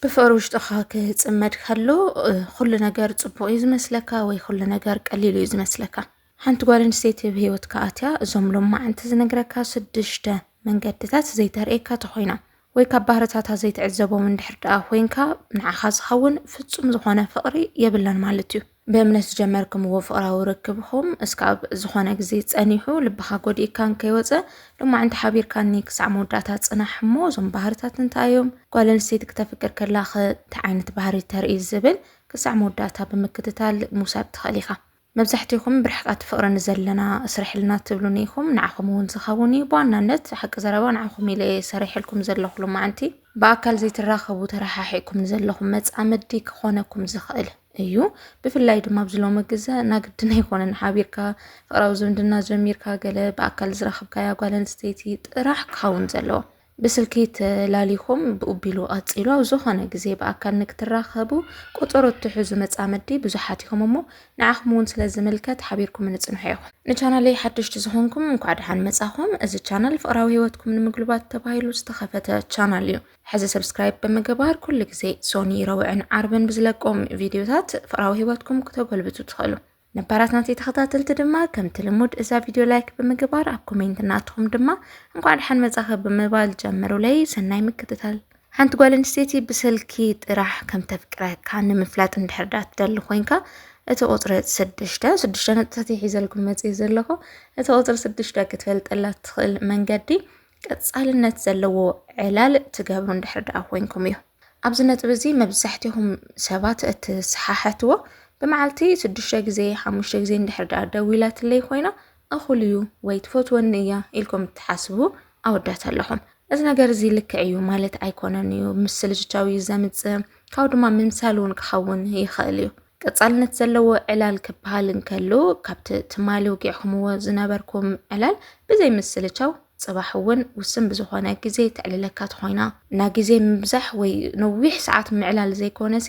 ብፍቕሪ ውሽጥኻ ክፅመድ ከሎ ኩሉ ነገር ፅቡቕ እዩ ዝመስለካ ወይ ኩሉ ነገር ቀሊሉ እዩ ዝመስለካ። ሓንቲ ጓል ኣንስተይቲ ኣብ ሂወትካ ኣትያ እዞም ሎማዓንቲ ዝነግረካ ሽዱሽተ መንገድታት ዘይተርእየካ ተኾይና ወይ ካብ ባህርታታ ዘይትዕዘቦም እንድሕር ደኣ ኮይንካ ንዓኻ ዝኸውን ፍጹም ዝኾነ ፍቕሪ የብላን ማለት እዩ። ብእምነት ዝጀመርክምዎ ፍቕራዊ ርክብኹም እስካብ ዝኾነ ግዜ ጸኒሑ ልብኻ ጎዲእካን ከይወጸ ሎማዕንቲ ሓቢርካኒ ክሳዕ መወዳእታ ጽናሕ እሞ እዞም ባህርታት እንታይ እዮም ጓል ኣንስተይቲ ክተፍቅር ከላ እንታይ ዓይነት ባህሪ ተርኢ ዝብል ክሳዕ መወዳእታ ብምክትታል ምውሳድ ትኽእል ኢኻ መብዛሕትኹም ብርሕቃት ፍቕሪ ንዘለና ስርሕልና ትብሉኒ ኢኹም ንዓኹም እውን ዝኸውን እዩ ብዋናነት ሓቂ ዘረባ ንዓኹም ኢለ እየ ሰሪሐልኩም ዘለኹ ሎማዕንቲ ብኣካል ዘይትራኸቡ ተረሓሒቕኩም ንዘለኹም መጻምዲ ክኾነኩም ዝኽእል እዩ ብፍላይ ድማ ኣብዚ ሎሚ ግዘ ናግድን ኣይኮነን ሓቢርካ ፍቅራዊ ዝምድና ጀሚርካ ገለ ብኣካል ዝረኽብካያ ጓል ኣንስተይቲ ጥራሕ ክኸውን ዘለዎ ብስልኪ ተላሊኹም ብኡቢሉ ቀፂሉ ኣብ ዝኾነ ግዜ ብኣካል ንክትራኸቡ ቆፀሮ እትሕዙ መፃመዲ ብዙሓት ኢኹም እሞ ንዓኹም እውን ስለ ዝምልከት ሓቢርኩም ንፅንሖ ኢኹም ንቻናለይ ሓደሽቲ ዝኾንኩም እንኳዕ ደሓን መፃኹም እዚ ቻናል ፍቅራዊ ሂወትኩም ንምግልባት ተባሂሉ ዝተኸፈተ ቻናል እዩ ሕዚ ሰብስክራይብ ብምግባር ኩሉ ግዜ ሶኒ ረውዕን ዓርብን ብዝለቆም ቪድዮታት ፍቅራዊ ህይወትኩም ክተጎልብቱ ትኽእሉ ነባራት ናተይ ተኸታተልቲ ድማ ከምቲ ልሙድ እዛ ቪድዮ ላይክ ብምግባር ኣብ ኮሜንት እናትኹም ድማ እንኳዕ ድሓን መጻኸ ብምባል ጀምሩለይ ሰናይ ምክትታል ሓንቲ ጓል ኣንስተይቲ ብስልኪ ጥራሕ ከም ተፍቅረካ ንምፍላጥ እንድሕር ዳ ትደሊ ኮንካ እቲ ቁፅሪ ስድሽተ ስድሽተ ነጥብታት ይሒዘልኩም መፅእ ዘለኹ እቲ ቁፅሪ ስድሽተ ክትፈልጠላ ትኽእል መንገዲ ቀጻልነት ዘለዎ ዕላል ትገብሩ እንድሕር ደኣ ኮይንኩም እዩ። ኣብዚ ነጥቢ እዚ መብዛሕትኹም ሰባት እትሰሓሐትዎ ብመዓልቲ ሽዱሽተ ግዜ ሓሙሽተ ግዜ እንድሕር ደኣ ደዊላትለይ ኮይና እኹል እዩ ወይ ትፈትወኒ እያ ኢልኩም እትሓስቡ ኣወዳት ኣለኹም። እዚ ነገር እዚ ልክዕ እዩ ማለት ኣይኮነን እዩ ምስ ልጅቻው እዩ ዘምጽእ ካብኡ ድማ ምምሳል እውን ክኸውን ይኽእል እዩ ቀጻልነት ዘለዎ ዕላል ክበሃል እንከሎ ካብቲ ትማሊ ውጊዕኹምዎ ዝነበርኩም ዕላል ብዘይ ምስልቻው ጽባሕ እውን ውስን ብዝኾነ ግዜ ተዕልለካ ትኾይና እና ግዜ ምብዛሕ ወይ ነዊሕ ሰዓት ምዕላል ዘይኮነሲ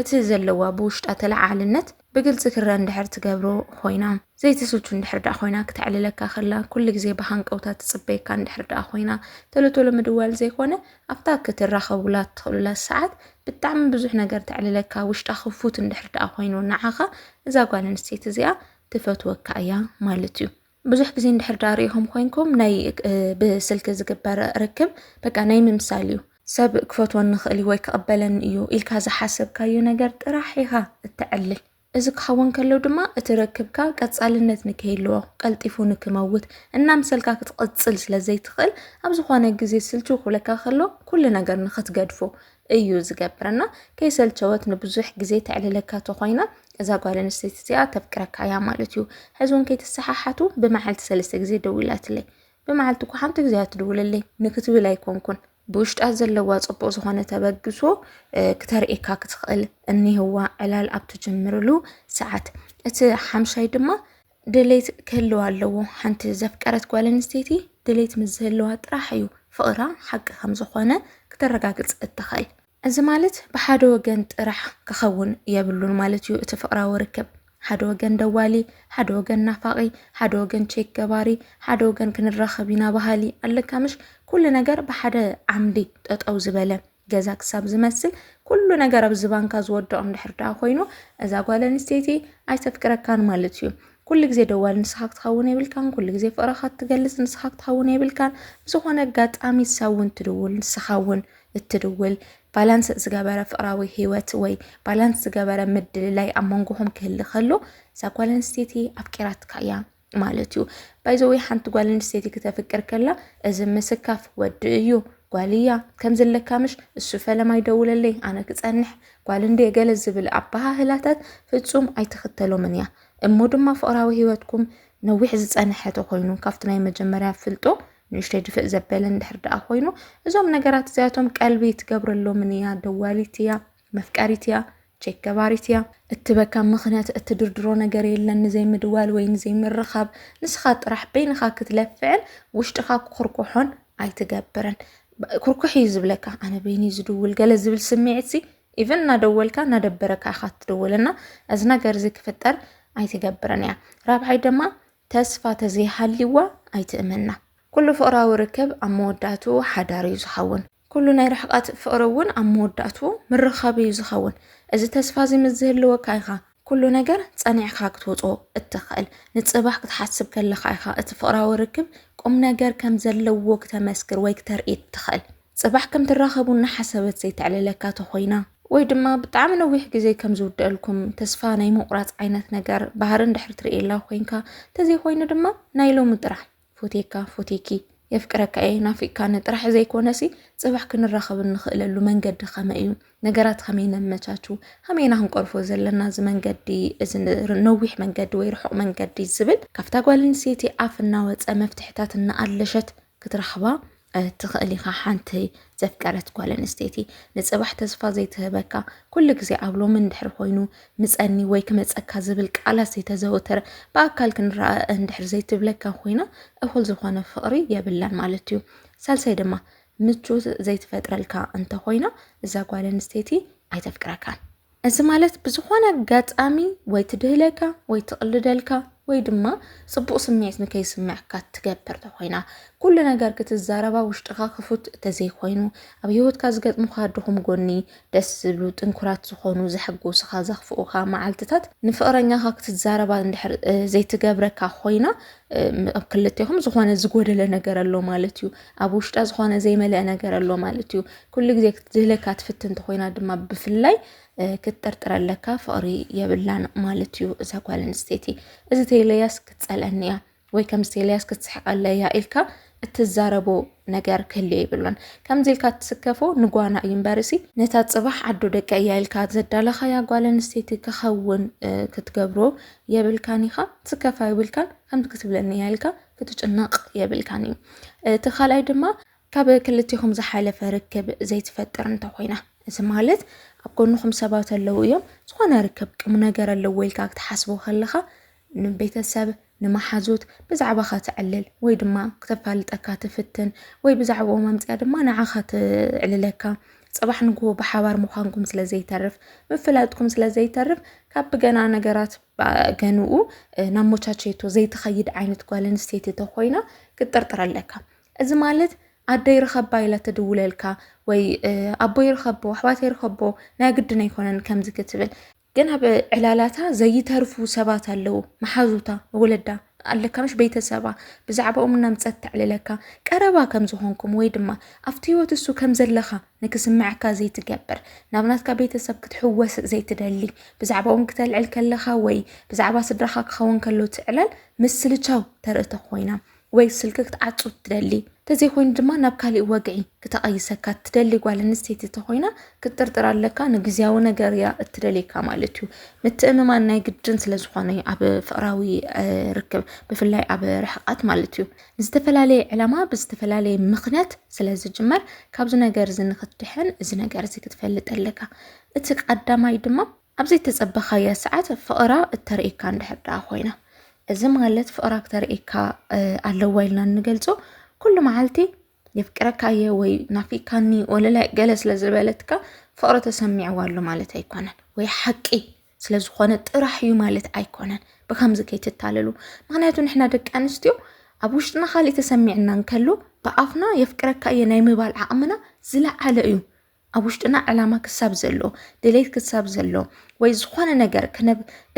እቲ ዘለዋ ብውሽጣ ተለዓዓልነት ብግልፂ ክረአ እንድሕር ትገብሮ ኮይና ዘይትስልቹ እንድሕር ደኣ ኮይና ክተዕልለካ ከላ ኩሉ ግዜ ብሃንቀውታ ትፅበየካ እንድሕር ደኣ ኮይና ቶሎ ቶሎ ምድዋል ዘይኮነ ኣብታ ክትራኸቡላ ትኽእሉላ ሰዓት ብጣዕሚ ብዙሕ ነገር ተዕልለካ ውሽጣ ክፉት እንድሕር ደኣ ኮይኑ ንዓኻ እዛ ጓል ኣንስተይቲ እዚኣ ትፈትወካ እያ ማለት እዩ። ብዙሕ ግዜ እንድሕር ደኣ ሪኢኹም ኮይንኩም ናይ ብስልኪ ዝግበር ርክብ በቃ ናይ ምምሳል እዩ። ሰብ ክፈትወኒ ይኽእል እዩ ወይ ክቕበለኒ እዩ ኢልካ ዝሓሰብካዮ ነገር ጥራሕ ኢኻ እተዕልል። እዚ ክኸውን ከሎ ድማ እቲ ርክብካ ቀጻልነት ንከይልዎ፣ ቀልጢፉ ንክመውት፣ እናምሰልካ ክትቕጽል ስለ ዘይትኽእል ኣብ ዝኾነ ግዜ ስልችው ክብለካ ከሎ ኩሉ ነገር ንክትገድፎ እዩ ዝገብር እና ከይሰልቸወት ንብዙሕ ግዜ ተዕልለካ ተኾይና እዛ ጓል ኣንስተይቲ እዚኣ ተፍቅረካ እያ ማለት እዩ። ሕዚ እውን ከይተሰሓሓቱ ብመዓልቲ ሰለስተ ግዜ ደዊላትለይ ብመዓልቲ እኳ ሓንቲ ግዜ ኣትድውልለይ ንክትብል ኣይኮንኩን ብውሽጣ ዘለዋ ፅቡቕ ዝኾነ ተበግሶ ክተርእየካ ክትኽእል እኒህዋ ዕላል ኣብ ትጅምርሉ ሰዓት እቲ ሓምሻይ ድማ ድሌት ክህልዋ ኣለዎ ሓንቲ ዘፍቀረት ጓል ኣንስተይቲ ድሌት ምስ ዝህልዋ ጥራሕ እዩ ፍቕራ ሓቂ ከም ዝኾነ ክተረጋግፅ እትኽእል እዚ ማለት ብሓደ ወገን ጥራሕ ክኸውን የብሉን ማለት እዩ እቲ ፍቕራዊ ርክብ። ሓደ ወገን ደዋሊ፣ ሓደ ወገን ናፋቒ፣ ሓደ ወገን ቼክ ገባሪ፣ ሓደ ወገን ክንራኸብ ኢና በሃሊ ኣለካ ምሽ? ኩሉ ነገር ብሓደ ዓምዲ ጠጠው ዝበለ ገዛ ክሳብ ዝመስል ኩሉ ነገር ኣብ ዝባንካ ዝወድቕ እንድሕር ደኣ ኮይኑ እዛ ጓል ኣንስተይቲ ኣይተፍቅረካን ማለት እዩ። ኩሉ ግዜ ደዋል ንስኻ ክትኸውን የብልካን ኩሉ ግዜ ፍቕረኻ ትገልጽ ንስኻ ክትኸውን የብልካን ብዝኾነ ኣጋጣሚ ሳውን ትድውል ንስኻ እውን እትድውል ባላንስ ዝገበረ ፍቅራዊ ህይወት ወይ ባላንስ ዝገበረ ምድልላይ ኣብ መንጎኹም ክህሊ ከሎ እዛ ጓል ኣንስተይቲ ኣፍቂራትካ እያ ማለት እዩ። ባይዘወ ሓንቲ ጓል ኣንስተይቲ ክተፍቅር ከላ እዚ ምስካፍ ወዲ እዩ ጓል እያ ከምዚ ኣለካ ምሽ እሱ ፈለማ ይደውለለይ ኣነ ክፀንሕ ጓል እንደ ገለ ዝብል ኣበሃህላታት ፍፁም ኣይትኽተሎምን እያ እሞ ድማ ፍቅራዊ ህይወትኩም ነዊሕ ዝፀንሐ ተኮይኑ ካብቲ ናይ መጀመርያ ፍልጦ ንእሽተይ ድፍእ ዘበለ እንድሕር ደኣ ኮይኑ እዞም ነገራት እዚኣቶም ቀልቢ ትገብረሎምን እያ ደዋሊት እያ መፍቀሪት እያ ቼክ ገባሪት እያ እትበካ ምክንያት እትድርድሮ ነገር የለን ንዘይምድዋል ወይ ንዘይምርኻብ ንስኻ ጥራሕ በይንኻ ክትለፍዕን ውሽጥኻ ክኩርኩሖን ኣይትገብርን ኩርኩሕ እዩ ዝብለካ ኣነ በይኒ ዝድውል ገለ ዝብል ስምዒት ሲ ኢቨን እናደወልካ እናደበረካ ኢኻ ትደወልና እዚ ነገር እዚ ክፍጠር ኣይትገብርን እያ ራብዓይ ድማ ተስፋ ተዘይሃልይዋ ኣይትእመና። ኩሉ ፍቕራዊ ርክብ ኣብ መወዳእትኡ ሓዳር እዩ ዝኸውን። ኩሉ ናይ ርሕቐት ፍቕሪ እውን ኣብ መወዳእትኡ ምርኻብ እዩ ዝኸውን። እዚ ተስፋ እዚ ምስ ዝህልወካ ኢኻ ኩሉ ነገር ጸኒዕካ ክትወጾ እትኽእል። ንጽባሕ ክትሓስብ ከለኻ ኢኻ እቲ ፍቕራዊ ርክብ ቁምነገር ከም ዘለዎ ክተመስክር ወይ ክተርኢ እትኽእል። ጽባሕ ከም ትራኸቡ እናሓሰበት ዘይተዕልለካ ተኾይና፣ ወይ ድማ ብጣዕሚ ነዊሕ ግዜ ከም ዝውደኣልኩም ተስፋ ናይ ምቑራጽ ዓይነት ነገር ባህሪ እንድሕር ትርእየላ ኮይንካ፣ ተዘይኮይኑ ድማ ናይ ሎሚ ጥራሕ ፎትየካ ፎትየኪ የፍቅረካ እየ ናፊቕካኒ ጥራሕ ዘይኮነሲ ጽባሕ ክንራኸብ እንኽእለሉ መንገዲ ከመይ እዩ፣ ነገራት ከመይ ነመቻቹ፣ ከመይ ኢና ክንቀርፎ ዘለና እዚ መንገዲ እዚ ነዊሕ መንገዲ ወይ ርሑቕ መንገዲ ዝብል ካብታ ጓል ኣንስተይቲ ኣፍ እናወጸ መፍትሕታት እናኣለሸት ክትረኽባ ትኽእል ኢኻ። ሓንቲ ዘፍቀረት ጓል ኣንስተይቲ ንፅባሕ ተስፋ ዘይትህበካ ኩሉ ግዜ ኣብ ሎሚ እንድሕር ኮይኑ ምፀኒ ወይ ክመፀካ ዝብል ቃላት ዘይተዘወተረ ብኣካል ክንረኣ እንድሕር ዘይትብለካ ኮይና እኹል ዝኾነ ፍቕሪ የብላን ማለት እዩ። ሳልሳይ ድማ ምቾት ዘይትፈጥረልካ እንተኾይና እዛ ጓል ኣንስተይቲ ኣይተፍቅረካን። እዚ ማለት ብዝኾነ ኣጋጣሚ ወይ ትድህለካ ወይ ትቕልደልካ ወይ ድማ ጽቡቕ ስምዒት ንከይስምዐካ ትገብር ተኾይና ኩሉ ነገር ክትዛረባ ውሽጥኻ ክፉት እንተዘይኮይኑ ኣብ ህይወትካ ዝገጥሙኻ ድኹም ጎኒ ደስ ዝብሉ ጥንኩራት ዝኾኑ ዘሐጎስኻ ዘኽፍኡኻ መዓልትታት ንፍቕረኛኻ ክትዛረባ እንድሕር ዘይትገብረካ ኮይና ኣብ ክልቴኹም ዝኾነ ዝጎደለ ነገር ኣሎ ማለት እዩ ኣብ ውሽጣ ዝኾነ ዘይመለአ ነገር ኣሎ ማለት እዩ ኩሉ ግዜ ክትድህለካ ትፍትን እንተኾይና ድማ ብፍላይ ክትጥርጥረ ኣለካ ፍቕሪ የብላን ማለት እዩ እዛ ጓል ኣንስተይቲ እዚ ተይለያስ ክትፀልአኒ እያ ወይ ከምዚ ተይለያስ ክትስሕቀለ እያ ኢልካ እትዛረቦ ነገር ክህልዮ ይብሎን ከምዚ ኢልካ እትስከፎ ንጓና እዩ እምበርሲ ነታ ፅባሕ ዓዶ ደቂ እያ ኢልካ ዘዳለኻያ ጓል ኣንስተይቲ ክኸውን ክትገብሮ የብልካን ኢኻ ትስከፋ የብልካን ከምዚ ክትብለኒ እያ ኢልካ ክትጭነቕ የብልካን እዩ እቲ ካልኣይ ድማ ካብ ክልቴኹም ዝሓለፈ ርክብ ዘይትፈጥር እንተኾይና፣ እዚ ማለት ኣብ ጎንኹም ሰባት ኣለዉ እዮም፣ ዝኾነ ርክብ ቁምነገር ኣለዎ ኢልካ ክትሓስቦ ከለኻ ንቤተሰብ ንመሓዙት ብዛዕባኻ ተዕልል ወይ ድማ ክተፋልጠካ ትፍትን ወይ ብዛዕባኦም ኣምፅኣ ድማ ንዓኻ ትዕልለካ ፅባሕ ንግሆ ብሓባር ምዃንኩም ስለ ዘይተርፍ ምፍላጥኩም ስለ ዘይተርፍ ካብ ብገና ነገራት ገንኡ ናብ ሞቻቸቶ ዘይትኸይድ ዓይነት ጓል ኣንስተይቲ ተኾይና ክትጥርጥር ኣለካ እዚ ማለት ኣደይ ርኸባ ኢላ ትድውለልካ ወይ ኣቦይ ርኸቦ ኣሕዋተይ ርኸቦ ናይ ግድን ኣይኮነን ከምዚ ክትብል ግን ኣብ ዕላላታ ዘይተርፉ ሰባት ኣለዉ መሓዙታ ወለዳ ኣለካ ምሽ ቤተሰባ ብዛዕባኦም እናምፀት ተዕልለካ ቀረባ ከም ዝኾንኩም ወይ ድማ ኣብቲ ህይወት እሱ ከም ዘለኻ ንክስምዐካ ዘይትገብር ናብ ናትካ ቤተሰብ ክትሕወስ ዘይትደሊ ብዛዕባኦም ክተልዕል ከለኻ ወይ ብዛዕባ ስድራኻ ክኸውን ከሎ ትዕላል ምስልቻው ተርእቶ ኮይና ወይ ስልኪ ክትዓጹ እትደሊ እንተዘይኮይኑ ድማ ናብ ካሊእ ወግዒ ክተቐይሰካ እትደሊ ጓል ኣንስተይቲ እንተኾይና ክትጥርጥር ኣለካ። ንግዝያዊ ነገር እያ እትደልየካ ማለት እዩ። ምትእምማን ናይ ግድን ስለ ዝኾነ እዩ ኣብ ፍቕራዊ እ፣ ርክብ ብፍላይ ኣብ ርሕቐት ማለት እዩ። ንዝተፈላለየ ዕላማ ብዝተፈላለየ ምኽንያት ስለ ዝጅመር ካብዚ ነገር እዚ ንክትድሕን እዚ ነገር እዚ ክትፈልጥ ኣለካ። እቲ ቀዳማይ ድማ ኣብ ዘይተጸበኻያ ሰዓት ፍቕራ እተርእየካ እንድሕር ደኣ ኮይና እዚ ማለት ፍቕራ ክተርእየካ ኣለዋ ኢልና እንገልጾ ኩሉ መዓልቲ የፍቅረካ እየ ወይ ናፊካኒ ወለላይ ገለ ስለ ዝበለትካ ፍቅሪ ተሰሚዕዋ ኣሎ ማለት ኣይኮነን ወይ ሓቂ ስለ ዝኾነ ጥራሕ እዩ ማለት ኣይኮነን ብከምዚ ከይትታለሉ ምክንያቱ ንሕና ደቂ ኣንስትዮ ኣብ ውሽጥና ካሊእ ተሰሚዕና እንከሎ ብኣፍና የፍቅረካ እየ ናይ ምባል ዓቕምና ዝለዓለ እዩ ኣብ ውሽጥና ዕላማ ክሳብ ዘሎ ድሌት ክሳብ ዘሎ ወይ ዝኾነ ነገር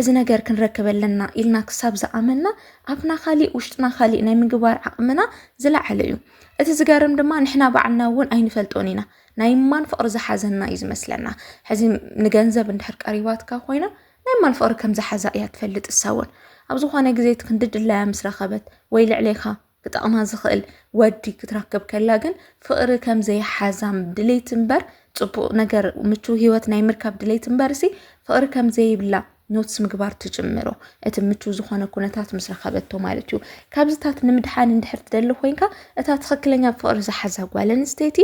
እዚ ነገር ክንረክብ ኣለና ኢልና ክሳብ ዝኣመና ኣብና ካሊእ ውሽጥና ካሊእ ናይ ምግባር ዓቕምና ዝለዓለ እዩ እቲ ዝገርም ድማ ንሕና ባዕልና እውን ኣይንፈልጦን ኢና ናይ ማን ፍቕሪ ዝሓዘና እዩ ዝመስለና ሕዚ ንገንዘብ እንድሕር ቀሪባትካ ኮይና ናይ ማን ፍቕሪ ከም ዝሓዛ እያ ትፈልጥ እሳ እውን ኣብ ዝኾነ ግዜ እቲ ክንዲ ድላያ ምስ ረኸበት ወይ ልዕሌኻ ክጠቕማ ዝኽእል ወዲ ክትረክብ ከላ ግን ፍቕሪ ከም ዘይሓዛም ድሌት እምበር ፅቡቕ ነገር ምቹው ሂወት ናይ ምርካብ ድሌት እምበር ሲ ፍቕሪ ከም ዘይብላ ኖትስ ምግባር ትጅምሮ እቲ ምቹ ዝኾነ ኩነታት ምስ ረኸበቶ ማለት እዩ ካብዚታት ንምድሓን እንድሕር ትደሊ ኮንካ እታ ትኽክለኛ ፍቕሪ ዝሓዛ ጓል ኣንስተይቲ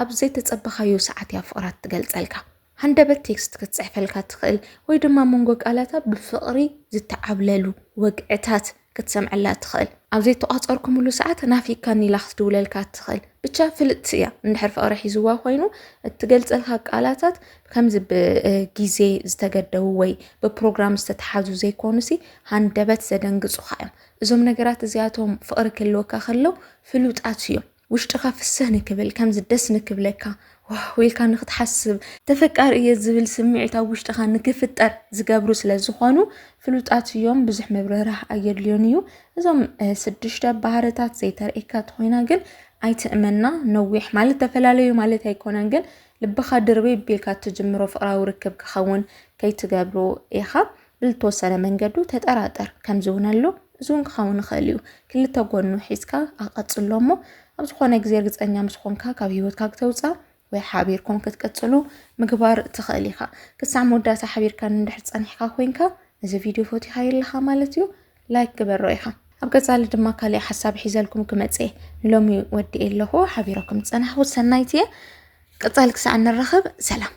ኣብ ዘይተፀበኻዮ ሰዓት እያ ፍቕራ ትገልፀልካ ሃንደበት ቴክስት ክትጽሕፈልካ ትኽእል ወይ ድማ ኣብ መንጎ ቃላታ ብፍቕሪ ዝተዓብለሉ ወግዕታት ክትሰምዐላ ትኽእል። ኣብ ዘይተቋጸርኩምሉ ሰዓት ናፊካኒ ኢላ ክትድውለልካ ትኽእል። ብቻ ፍልጥቲ እያ እንድሕር ፍቕሪ ሒዝዋ ኮይኑ እትገልጸልካ ቃላታት ከምዚ ብጊዜ ዝተገደቡ ወይ ብፕሮግራም ዝተተሓዙ ዘይኮኑሲ ሃንደበት ዘደንግጹኻ እዮም። እዞም ነገራት እዚኣቶም ፍቕሪ ክህልወካ ከሎ ፍሉጣት እዮም። ውሽጥኻ ፍስህ ንክብል ከምዚ ደስ ንክብለካ ዋው ኢልካ ንክትሓስብ፣ ተፈቃሪ እየ ዝብል ስምዒት ኣብ ውሽጥኻ ንክፍጠር ዝገብሩ ስለ ዝኾኑ ፍሉጣት እዮም፣ ብዙሕ ምብርህራህ ኣየድልዮን እዩ። እዞም ስድሽተ ባህርታት ዘይተርእየካ ተኾይና ግን ኣይትእመና። ነዊሕ ማለት ተፈላለዩ ማለት ኣይኮነን፣ ግን ልብኻ ድርበይ ቢልካ እትጅምሮ ፍቅራዊ ርክብ ክኸውን ከይትገብሮ ኢኻ። ብልተወሰነ መንገዱ ተጠራጠር ከምዚውን ኣሎ እዚውን ክኸውን ይኽእል እዩ ክልተ ጎኑ ሒዝካ ኣቐጽሎ እሞ ኣብ ዝኾነ ግዜ ርግጸኛ ምስ ኾንካ ካብ ህይወትካ ክተውፃ ወይ ሓቢርኩም ክትቅጽሉ ምግባር ትኽእል ኢኻ ክሳዕ መወዳእታ ሓቢርካ እንድሕር ጸኒሕካ ኮንካ እዚ ቪድዮ ፈቲኻ የለኻ ማለት እዩ ላይክ ግበሮ ኢኻ ኣብ ቀጻሊ ድማ ካልእ ሓሳብ ሒዘልኩም ክመጽ እየ ንሎሚ ወዲኤ ኣለኹ ሓቢረኩም ዝጸናሕኹ ሰናይት እየ ቀጻሊ ክሳዕ ንራኸብ ሰላም